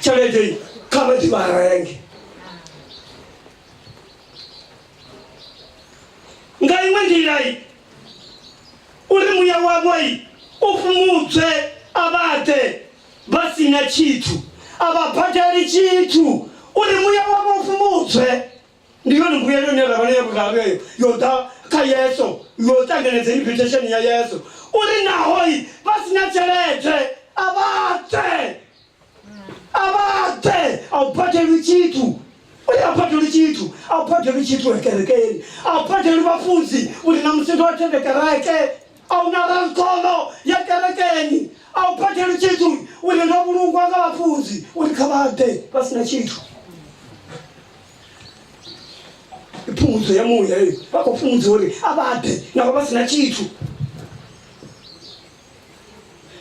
tshelede i kha vha tshi vha renge nga iṅwe nḓila i uri muya wavho i u fhumudzwe a vhaḓe vha si na tshithu a vha badeli tshithu uri muya wavho u fhumudzwe ndi yone mbuyelo ine ravha na ya vhuraru eyo yo ḓa kha yeso yo ṱanganedza invitation ya yeso uri nahoi vha si na tshelede a vhaḓe a vhaḓe a u badelwi tshithu uri a badelwi tshithu a u badelwi tshithu ekerekeni a u badelwi vhafunzi uri na musi ndo athende kereke a u na rankolo ya kerekeni a u badelwi tshithu uri ndo vhulungwa nga vhafunzi uri kha vhaḓe vha si na tshithu pfunzo ya muya iyo vha khou pfunza uri a vha ḓe navho vha si na tshithu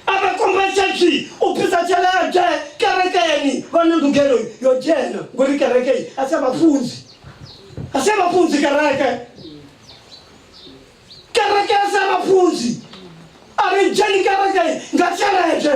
a vha kombetshedzi u bvisa tshelede kerekeni vha na ndugelo yo dzhena ngori kereke iyi a si ya vhafunzi a si ya vhafunzi kereke kereke a si ya vhafunzi a ri dzheni kereke nga tshelede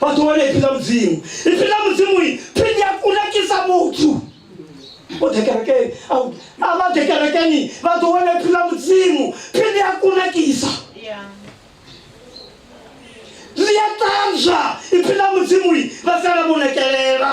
vha ḓo wana ipfi ḽa mudzimu ipfi ḽa mudzimu pfi ḽi a kunakisa muthu o ḓe kerekeni a vha ḓe kerekeni vha ḓo wana ipfi ḽa mudzimu pfi ḽi a kunakisa ḽi a ṱanzwa ipfi ḽa mudzimu vha sala vho nakelela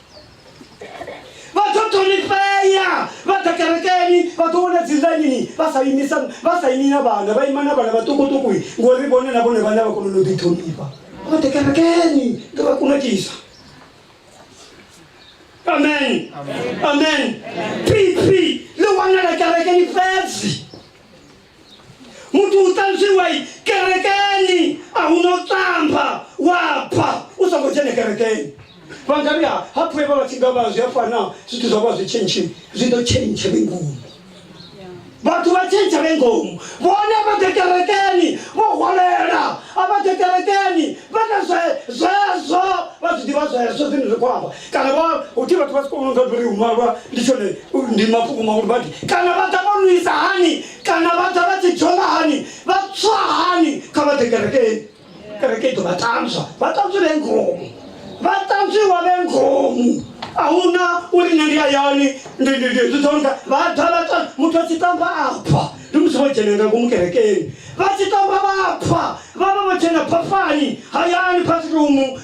vha ḓo ṱhonifhea vha ḓa kerekeni vha ḓo wana dzinlainini vha sa imisa vha sa imi na vhana vha ima na vhana vhaṱukuṱukui ngori vhone na vhone vhana vha kona no ḓi ṱhonifha vha ḓa kerekeni ndi vha kunakisa amen amen pp ḽi wanala kerekeni fhedzi muthu u ṱanzwiwa i kerekeni a hu no ṱamba wa bva u songo dzhene kerekeni vhangani ha hapfhu evha vha tshi nga vha zwi a fana zwithu zwa vha zwi tshentshini zwi ḓo tshentshe vhe ngomu vhathu vha tshentsha vhe ngomu vhone vha ḓe kerekeni vho hwalela a vha ḓe kerekeni vha na zwe zwezwo vha zwi ḓivha zwezwo zwine zwi khou amba kana vha hu tshi vhathu vha si kho vhona uri u ṅwalwa ndi tshone ndi mafhungo mahulu badi kana vha ḓa vho nwisa hani kana vha ḓa vha tshi dzhonga hani vha tswa hani kha vha ḓe kerekeni kereke i ḓo vha ṱanzwa vha ṱanzwi vhe ngomu vha ṱanzwiwa vhe ngomu a hu na uri nṋe ndi hayani ndi dzonga vha ḓa vha ṱa muthu a tshi tamba a pfha ndi musi vho dzhena nga ngomu kerekeni vha tshi tamba vha pfha vha vha vho dzhena phafani hayani bathroom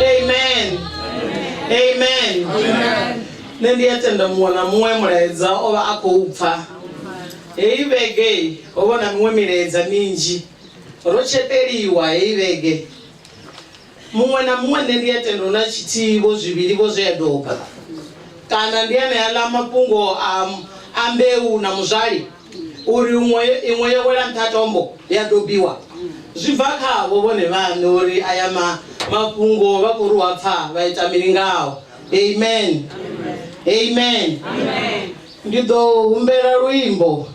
amen amen nṋe ndi a tenda muṅwe na muṅwe mulaedza o vha a khou pfa heyi vhege ho vha na miṅwe milaedza minzhi ro tshekeliwa heyi vhege Muṅwe na muṅwe nṋe ndi a tenda hu na tshithihi vho zwivhili vho zwe ya doba kana ndi anea ḽa mafhungo a, a mbeu na muzwali uri iṅwe, iṅwe yo wela nṱha tombo ya dobiwa. Zwi bva khavho vhone vhaṋe uri aya ma, mafhungo vha khou ri wa pfa vha ita mini ngao. Amen. Amen. Amen. Ndi ḓo humbela luimbo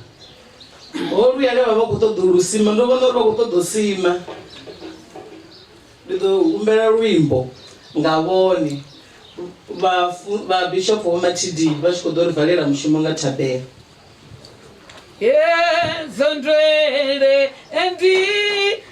ho vhuya nda vha vha khou ṱoḓa u lusima ndo vhona uri vha khou ṱoḓa u sima ndi ḓo humbela luimbo nga vhone vha bishop vho mathidi vha tshi khou ḓo ri valela mushumo nga thabela hedzo ndwele ndi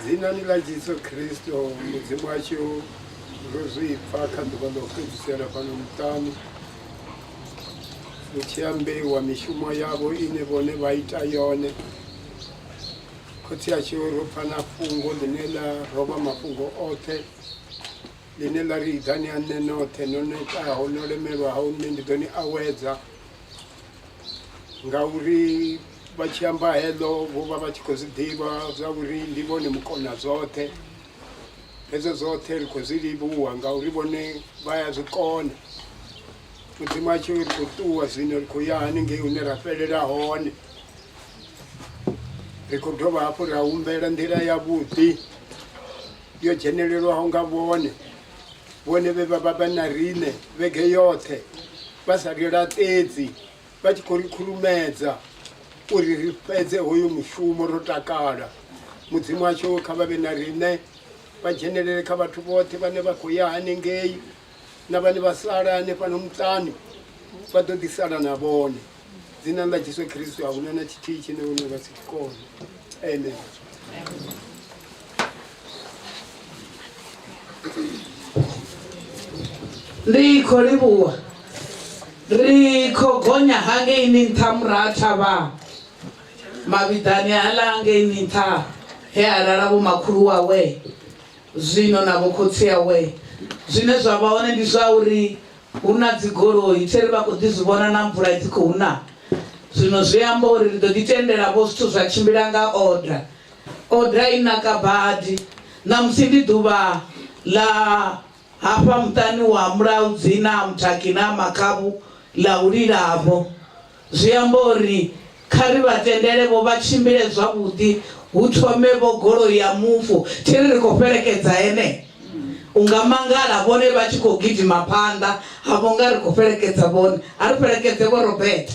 dzinani ḽa jesu khristo mudzimu washu ro zwi pfa kha ḓuvha ḽa u fhedzisela fhano muṱani hu tshi ambiwa mishumo yavho ine vhone vha ita yone khotsi ashu ro pfa na fhungo ḽine ḽa rovha mafhungo oṱhe ḽine ḽa ri idani a nṋe noṱhe no netaho no lemelwaho nṋe ndi ḓo ni awedza ngauri vha tshi amba heḽo vho vha vha tshi khou zwi ḓivha zwa uri ndi vhone mukona zwoṱhe. Hezwo zwoṱhe ri khou zwi livhuwa ngauri vhone vha ya zwikona. Mudzimu ashu ri khou ṱuwa zwino ri khou ya haningei hune ra fhelela hone, ri khou dovha hafhu ra humbela nḓila yavhuḓi yo dzhenelelwaho nga vhone. vhone vhe vha vha vha na riṋe vhege yoṱhe vha sa ri laṱedzi vha tshi khou ri khulumedza uri ri fhedze hoyo mushumo ro takala mudzimu washu kha vha vhe na riṋe vha dzhenelele kha vhathu vhoṱhe vhane vha khou ya hanengei na vhane vha sala hanefhano muṱani vha ḓo ḓi sala na vhone dzina ḽa jesu kristu a huna na tshithihi tshine une vha si kone amen ri khou livhuwa ri khou gonya hangeini nṱha muraha thavha mavhiḓani aḽa hangeini nṱha he a lala vho makhulu wawe zwino na vho khotsi awe zwine zwa vha hone ndi zwa uri Hu na dzigoloi, tshe ri vha khou ḓi zwi vhona na mvula i tshi khou na. Zwino zwi amba uri ri ḓo ḓi tendela-vho zwithu zwa tshimbila nga oda. Oda i naka badi. Ṋamusi ndi ḓuvha ḽa hafha muṱani wa Mulaudzi na ha Muthaki na ha Makhabu ḽa u lila-vho. Zwi amba uri kha ri vha tendele vho vha tshimbile zwavhuḓi hu thome vho goloi ya mufu thi ri ri khou fhelekedza ene. U nga mangala vhone vha tshi khou gidima phanḓa ha vho nga ri khou fhelekedza vhone. A ri fhelekedze vho Robert.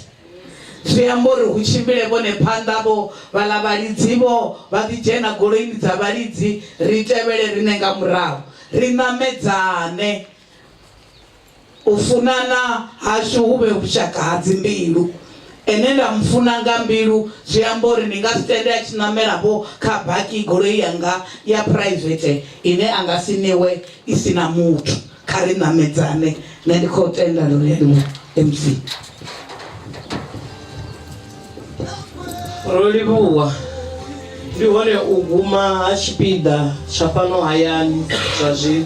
Zwi amba uri hu tshimbile vhone phanḓa vho vhaḽa vhalidzi vho vha ḓi dzhena goloini dza vhalidzi ri tevhele riṋe nga murahu ri ṋamedzane. U funana hashu hu vhe vhushaka ha dzimbilu. Ene nda mu funa nga mbilu zwi amba uri ndi nga si tende a tshi ṋamela-vho kha baki goloi yanga ya phuraivethe ine a nga si ṋewe i si na muthu. Kha ri ṋamedzane. Nṋe ndi khou tenda lwo leluwa, MC. Ro livhuwa. Ndi hone u guma ha tshipiḓa tsha fhano hayani zwa zwino.